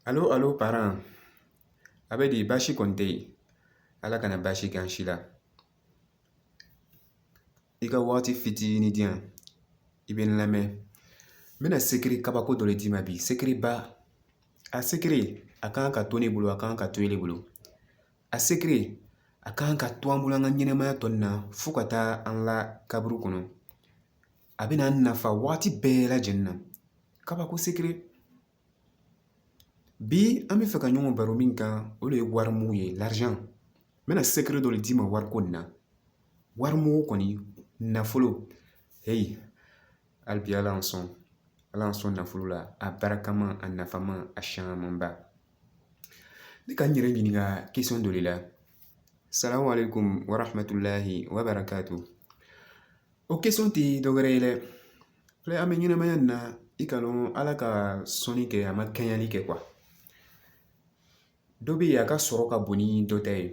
Alo alo paran a bɛ di baasi kɔni tɛ yen ala kana baasi kɛ an si la i ka waati fitinin di yan i bɛ n lamɛn n bɛna sekiri kabako dɔ de d'i ma bi sekiri ba a sekiri a kan ka to ne bolo a kan ka to ele bolo a sekiri a kan ka to an bolo an ka ɲɛnɛmaya tɔ nin na fo ka taa an la kaburu kɔnɔ a bɛna an nafa waati bɛɛ lajɛlen na kabako sekiri bi an bɛ fɛ ka ɲɔgɔn baro min kan o de ye wari mugu ye l'argent n bɛna sekiri dɔ de d'i ma wariko in na wari mugu kɔni nafolo heyi hali bi ala y'an sɔn ala y'an sɔn nafolo la a barikama a nafama a siyamanba ne ka n yɛrɛ ɲininka question dɔ de la salamu aleykum wa rahmatulahi wa barakatu o question tɛ dɔwɛrɛ ye dɛ Filɛ an bɛ ɲɛnɛmaya nin na i k'a dɔn ala ka sɔnni kɛ a ma kɛɲɛli kɛ dɔ bɛ yen a ka sɔrɔ ka bon ni dɔ ta ye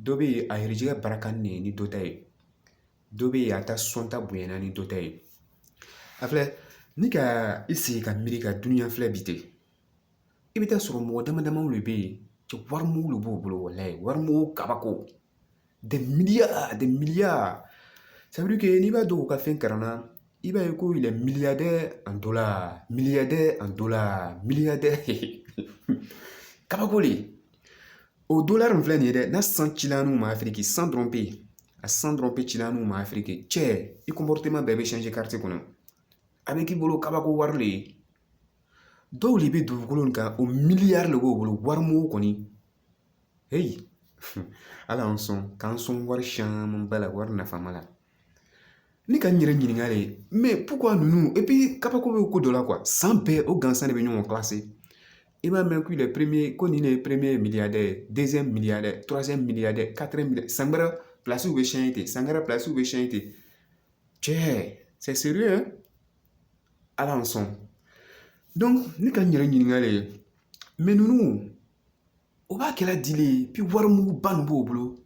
dɔ bɛ yen a garijɛgɛ bara ka di ni dɔ ta ye dɔ bɛ yen a ka sɔn ta bonyana ni dɔ ta ye a filɛ n'i ka i sigi ka miiri ka duniɲa filɛ bi ten i bɛ t'a sɔrɔ mɔgɔ dama damaw de bɛ yen cɛ wari mugu de b'u bolo walayi wari mugu kabako Des milliards des milliards c'est-à-dire que n'i b'a dɔn u ka fɛn kɛra n na i b'a ye ko yɛrɛ milliardaire en dollar milliardaire en dollar milliardaire kabako de o don la nin filɛ nin ye dɛ n'a san cila n'u ma afiriki san dɔrɔn bɛ yen a san dɔrɔn bɛ cila n'u ma afiriki cɛ i ko moritima bɛɛ bɛ kɔnɔ a bɛ k'i bolo kabako wari de ye dɔw de bɛ dugukolo in kan o milliards de b'o bolo wari mugu kɔni Hei, ala y'an sɔn k'an sɔn wari caman ba la wari nafama la ne ka n yɛrɛ ɲininka de mais pourquoi ninnu epi kabako bɛ ko dɔ la quoi san bɛɛ o gansan de bɛ ɲɔgɔn kilase i b'a mɛn k'o ye premier ko nin de ye premier milliardaire deuxième milliardaire troisième milliardaire quatrième san wɛrɛ pilasiw bɛ siyɛn ten san wɛrɛ pilasiw bɛ siyɛn ten cɛ sɛsiri ala y'an sɔn ne ka n yɛrɛ ɲininka de ye mais ninnu o b'a kɛra di le bi wari mugu ba nin b'o bolo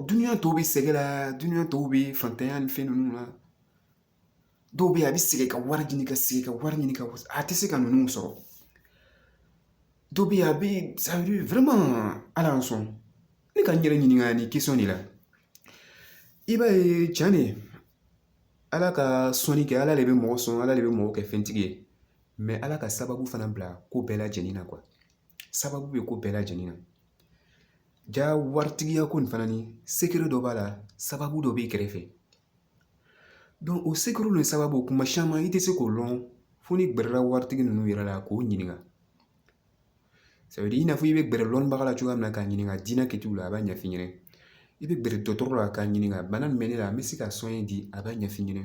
duniɲa tɔw bɛ sɛgɛn la duniɲa tɔw bɛ fantanya ni fɛn ninnu na dɔw bɛ yen a bɛ sɛgɛn ka wari ɲini ka sɛgɛn ka wari ɲini nka a tɛ se ka ninnu sɔrɔ dɔw bɛ yen a bɛ c'est-à-dire ala y'an sɔn ne ka n yɛrɛ ɲininka nin question de la i b'a ye cɛn de ala ka sɔnni kɛ ala de bɛ mɔgɔ sɔn ala de bɛ mɔgɔ kɛ fɛntigi ye ala ka sababu fana bila ko bɛɛ lajɛlen na sababu bɛ ko bɛɛ lajɛlen na ja waritigiya ko nin fana ni sekiri dɔ b'a la sababu dɔ b'i kɛrɛfɛ o sekiri ni sababu kuma caman i tɛ se k'o lɔn fo n'i gɛrɛla waritigi ninnu yɛrɛ la k'o ɲininka i n'a fɔ i bɛ gɛrɛ lɔnnibaga la cogoya min na k'a ɲininka diinɛ kɛcogo la a b'a ɲɛf'i ɲɛna i bɛ gɛrɛ dɔgɔtɔrɔ la k'a ɲininka bana min bɛ ne la n bɛ se k'a soigner di a b'a ɲɛf'i ɲɛna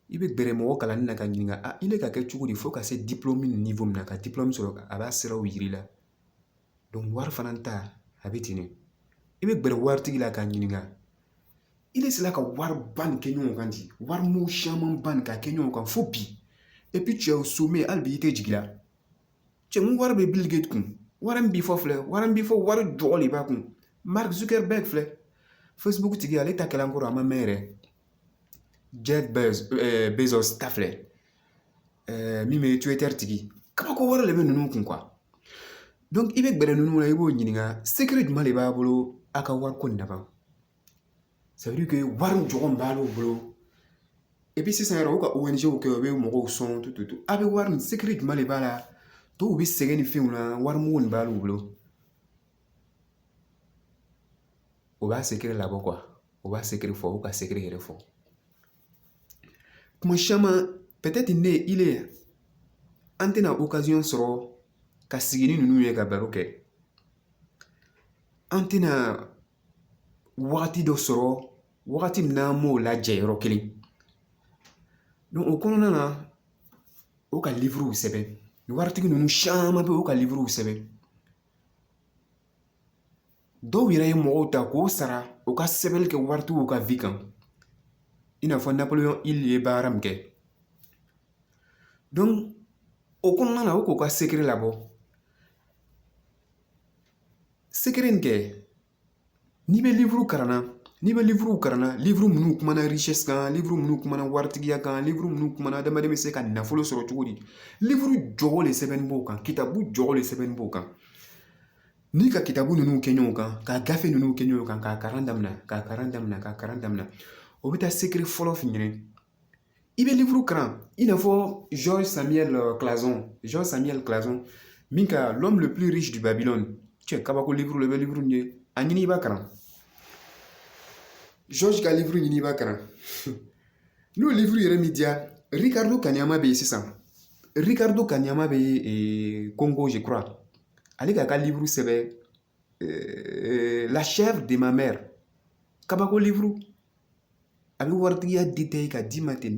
i bɛ gɛrɛ mɔgɔ kalannen na k'a ɲininka a i bɛ ka kɛ cogo di fo ka se min ma ka sɔrɔ a b'a siraw yir'i la wari fana ta a bɛ ten de i bɛ gɛrɛ waritigi la k'a ɲininka i bɛ sina ka wari ba nin kɛ ɲɔgɔn kan di wari mugu caman ba nin ka kɛ ɲɔgɔn kan fo bi epi cɛw so mɛ hali bi i tɛ jigin a cɛ mun wari bɛ Bill Gates kun wari min bi fɔ filɛ wari min bi fɔ wari jugu de b'a kun Mark Zuckerberg filɛ facebook tigi ale ta kɛla n kɔrɔ a ma mɛn yɛrɛ Jeff Bezos ta filɛ min bɛ Twitter tigi kabako wɛrɛ de bɛ ninnu kun i bɛ gɛrɛ ninnu na i b'o ɲininka sekiri jumɛn de b'a bolo a ka wariko in na ban wari jɔyɔrɔ min b'ale bolo i bɛ sisan yɛrɛ u ka kɛ u bɛ mɔgɔw sɔn a bɛ wari min sekiri jumɛn de b'a la dɔw bɛ sɛgɛn ni fɛnw na wari mugu de b'ale bolo u b'a sekiri labɔ quoi u b'a sekiri fɔ u ka sekiri yɛrɛ fɔ kuma caman peut-être ne ni ile an tɛna occasion sɔrɔ ka sigi ni ninnu ye ka baro kɛ an tɛna wagati dɔ sɔrɔ wagati min n'an b'o lajɛ yɔrɔ kelen donc o kɔnɔna na o ka liburu sɛbɛn waritigi ninnu caman bɛ yen u ka liburu sɛbɛn dɔw yɛrɛ ye mɔgɔw ta k'o sara u ka sɛbɛnni kɛ waritigiw ka vie kan i n'a fɔ Napoléon Hill ye baara min kɛ o kɔnɔna na u k'u ka sekiri labɔ sekiri in kɛ n'i bɛ liburu kalan na n'i bɛ liburu kalan na liburu minnu kumana richesse kan liburu minnu kumana waritigiya kan liburu minnu kumana adamaden bɛ se ka nafolo sɔrɔ cogo di liburu jugu de sɛbɛnnen b'o kan kitabu jugu de sɛbɛnnen b'o kan N'i ka kitabu ninnu kɛ ɲɔgɔn kan ka gafe ninnu kɛ ɲɔgɔn kan k'a kalan daminɛ k'a kalan daminɛ k'a kalan daminɛ o bɛ taa sekiri fɔlɔ f'i ɲɛna i bɛ liburu kalan i n'a fɔ George Samuel Clason Samuel Clason min ka l'homme le plus riche de Babylone cɛ kabako liburu la i bɛ liburu min ye a ɲini i b'a kalan George ka liburu ɲini i b'a kalan N'o liburu yɛrɛ m'i diya Ricardo Kaniama bɛ yen sisan Ricardo Kaniama bɛ Congo je crois ale ka ka liburu sɛbɛn la chèvre de ma mère kabako liburu a bɛ waritigiya détailler ka d'i ma ten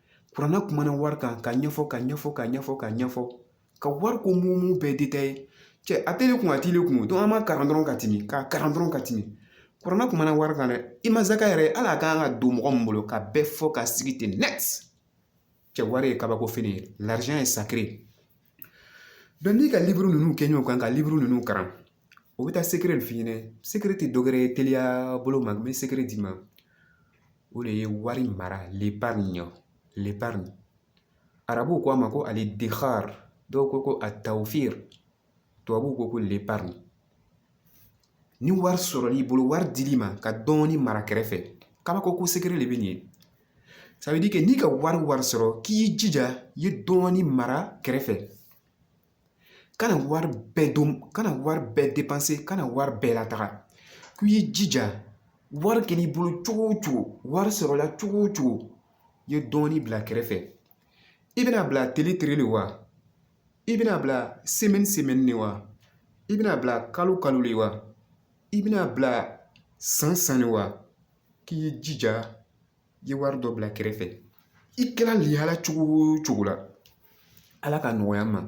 kurana kumana wari kan ka ɲɛfɔ ka ɲɛfɔ ka ɲɛfɔ ka ɲɛfɔ ka wariko mumɛ bɛɛ detaye cɛ a tɛ ne kun a t'ile kun an b'a kalan dɔrɔn ka tɛmɛ k'a kalan dɔrɔn ka tɛmɛ kurana kumana wari kan dɛ i ma zaka yɛrɛ ala a kan ka don mɔgɔ min bolo k'a bɛɛ fɔ k'a sigi ten nɛti cɛ wari ye kabako fɛn ye l'argent est sacré n'i ka liburu ninnu kɛ ɲɔgɔn kan ka liburu ninnu kalan u bɛ taa secret de f'i ɲɛna secret tɛ dɔ wɛrɛ ye teliya bolo ma n bɛ secret d'i ma o de ye wari mara l'épargne l'épargne arabuw ko a ma ko al-iddikhar dɔw ko ko at-tawfir tubabuw ko ko l'épargne ni wari sɔrɔl'i bolo wari dil'i ma ka dɔɔnin mara kɛrɛfɛ kabako ko secret de bɛ nin ye n'i ka wari wari sɔrɔ k'i y'i jija i ye dɔɔnin mara kɛrɛfɛ kana wari bɛɛ dun kana wari bɛɛ depanse kana wari bɛɛ lataga k'i y'i jija wari kɛl'i bolo cogo o cogo wari sɔrɔla cogo o cogo i ye dɔɔnin bila kɛrɛfɛ i bɛna bila tele tele de wa i bɛna bila semɛni semɛni de wa i bɛna bila kalo kalo de wa i bɛna bila san san de wa k'i y'i jija i ye wari dɔ bila kɛrɛfɛ i kɛra lihala cogo o cogo la ala k'a nɔgɔya an ma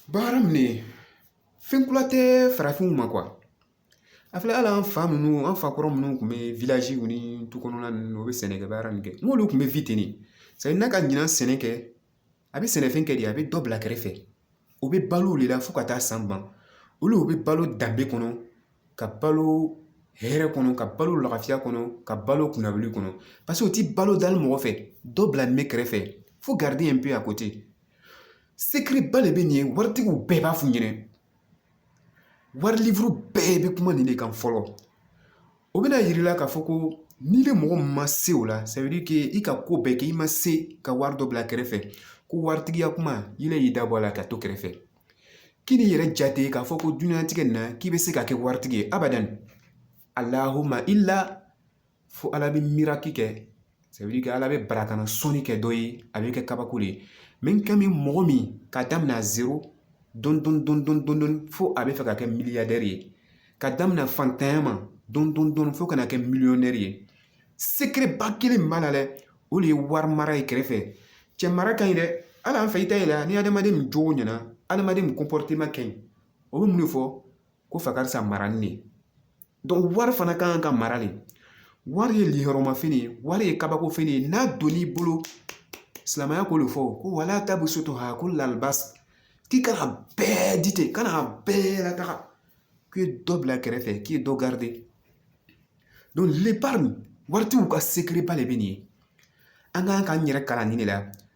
baara min ye fɛn kura tɛ farafinw ma a filɛ hali an fa ninnu an fa kɔrɔ minnu tun bɛ village nin kɔnɔna ninnu u bɛ sɛnɛkɛ baara min kɛ n'olu tun bɛ n'a ka ɲinan sɛnɛ kɛ a bɛ sɛnɛfɛn kɛ di a bɛ dɔ bila kɛrɛfɛ u bɛ balo o de la fo ka taa san ban olu u bɛ balo danbe kɔnɔ ka balo hɛrɛ kɔnɔ ka balo lafiya kɔnɔ ka balo kunnawolo kɔnɔ paseke u ti balo dali mɔgɔ fɛ dɔ bilanin bɛ kɛrɛfɛ faut garder un peu a ko ten secret ba de bɛ nin ye waritigiw bɛɛ b'a f'u ɲɛna wari liburu bɛɛ bɛ kuma nin de kan fɔlɔ o bɛna yir'i la k'a fɔ ko n'ile mɔgɔ min ma se o la ça veut dire que i ka ko bɛɛ kɛ i ma se ka wari dɔ bila kɛrɛfɛ ko waritigiya kuma ile y'i da bɔ a la ka to kɛrɛfɛ kan'i yɛrɛ jate k'a fɔ ko duniɲatigɛ nin na k'i bɛ se ka kɛ waritigi ye abadan allahumma illa fo ala bɛ miracle kɛ ala bɛ barakana sɔnni kɛ dɔ ye a bɛ kɛ kabako de ye min kɛ min mɔgɔ min ka daminɛ zero dɔɔnin dɔɔnin fo a bɛ fɛ ka kɛ miliyaridɛri ye ka daminɛ fantanya ma dɔɔnin dɔɔnin fo ka na kɛ miliyɔnɛri ye secret ba kelen min b'a la dɛ o de ye wari mara ye kɛrɛfɛ cɛ mara ka ɲi dɛ hali an fɛ i t'a ye ni adamaden min jogo ɲɛna adamaden comportement ka ɲi o bɛ mun de fɔ ko fa karisa marali de wari fana ka kan ka mara de wari ye lihɔrɔma fɛn ye wari ye kabako fɛn ye n'a donn'i bolo silamɛya k'o de fɔ ko wala tabusutuha kulal basi k'i kana bɛɛ di ten kana bɛɛ lataga k'i ye dɔ bila kɛrɛfɛ k'i ye dɔ garidi donc l'épargne waritigiw ka sekereba de bɛ nin ye an ka kan k'an yɛrɛ kalan nin de la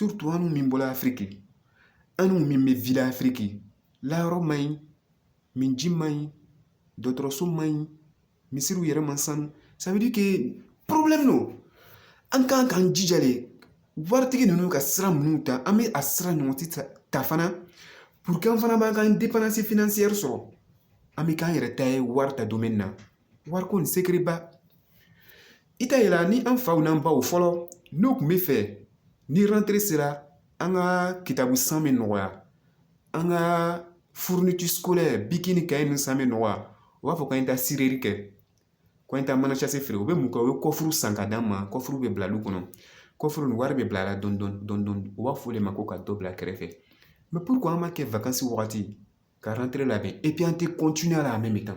an dun min bɔra afiriki an dun min bɛ wili afiriki layɔrɔ man ɲi minji man ɲi dɔgɔtɔrɔso man ɲi misiriw yɛrɛ ma sanu ça veut dire problème don an kan k'an jija de waritigi ninnu ka sira minnu ta an bɛ a sira ɲɔgɔn ti ta pour an fana b'an ka indépendance financière sɔrɔ an bɛ k'an yɛrɛ ta ye wari ta don min na wariko ni sekereba i t'a yera ni an faw n'an baw fɔlɔ n'u tun b'a fɛ ni rentrée sera an ka kitabu san bɛ nɔgɔya an ka fournitures scolaires biki ni kaye ni san bɛ nɔgɔya u b'a fɔ k'an ye taa kɛ ko an ye taa mana feere u bɛ mun kɛ u bɛ kɔfuru san ka d'an ma kɔfuru bɛ bila du kɔnɔ kɔfuru ni wari bɛ bila a la dɔɔni dɔɔni dɔɔni u b'a fɔ o de ma ko ka dɔ bila kɛrɛfɛ an mako wagati ka labɛn an tɛ a la a mɛ tan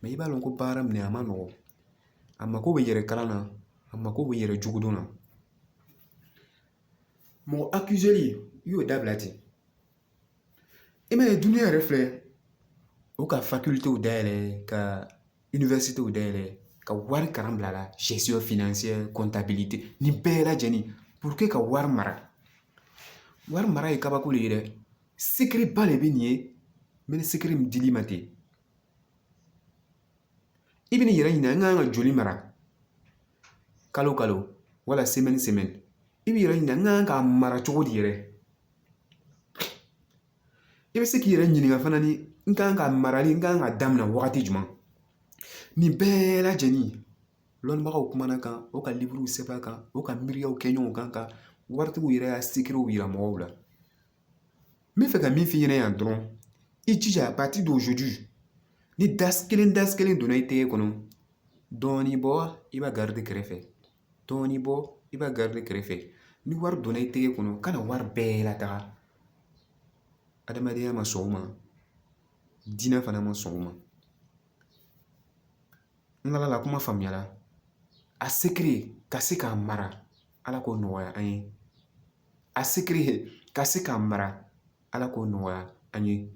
mɛ i b'a dɔn ko baara minɛ a ma nɔgɔn a mako bɛ yɛrɛ kalan na a mako bɛ yɛrɛ jogo dɔn na mɔgɔ akiliseli i y'o dabila ten i m'a ye dunuya yɛrɛ filɛ o ka facultéw dayɛlɛ ka universitéw dayɛlɛ ka wari kalan bil'a la gestion financière kɔntabilite nin bɛɛ lajɛlen pour ka wari mara wari mara ye kabako de ye dɛ Sekereba de bɛ nin ye mɛ ni sekere nin dil'i ma ten i bɛn'i yɛrɛ ɲininka n kan ka joli mara kalo kalo wala sɛmɛni sɛmɛni i b'i yɛrɛ ɲininka n kan ka mara cogo di yɛrɛ i bɛ se k'i yɛrɛ ɲininka fana ni n kan ka marali n kan ka daminɛ wagati jumɛn nin bɛɛ lajɛlen lɔnnibagaw kumana a kan o ka liburu sɛbɛn a kan o ka miiriyaw kɛ ɲɔgɔn kan ka waritigiw yɛrɛ y'a sekerew yira mɔgɔw la n b'a fɛ ka min f'i ɲɛna yan dɔrɔn i jija à partir d'aujourd'hui ni dalasi kelen dalasi kelen donna i tɛgɛ kɔnɔ dɔɔnin bɔ i b'a garidi kɛrɛfɛ dɔɔnin bɔ i b'a garidi kɛrɛfɛ ni wari donna i tɛgɛ kɔnɔ kana wari bɛɛ lataga adamadenya ma sɔn o ma diinɛ fana ma sɔn o ma N lal'a la kuma faamuyara a sekere ka se k'a mara ala k'o nɔgɔya an ye a sekere ka se k'a mara ala k'o nɔgɔya an ye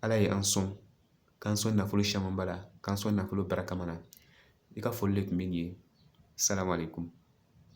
ala ye an sɔn k'an sɔn nafolo caman ba la k'an sɔn nafolo barikama na i ka foli de tun bɛ nin ye asalamu alayikum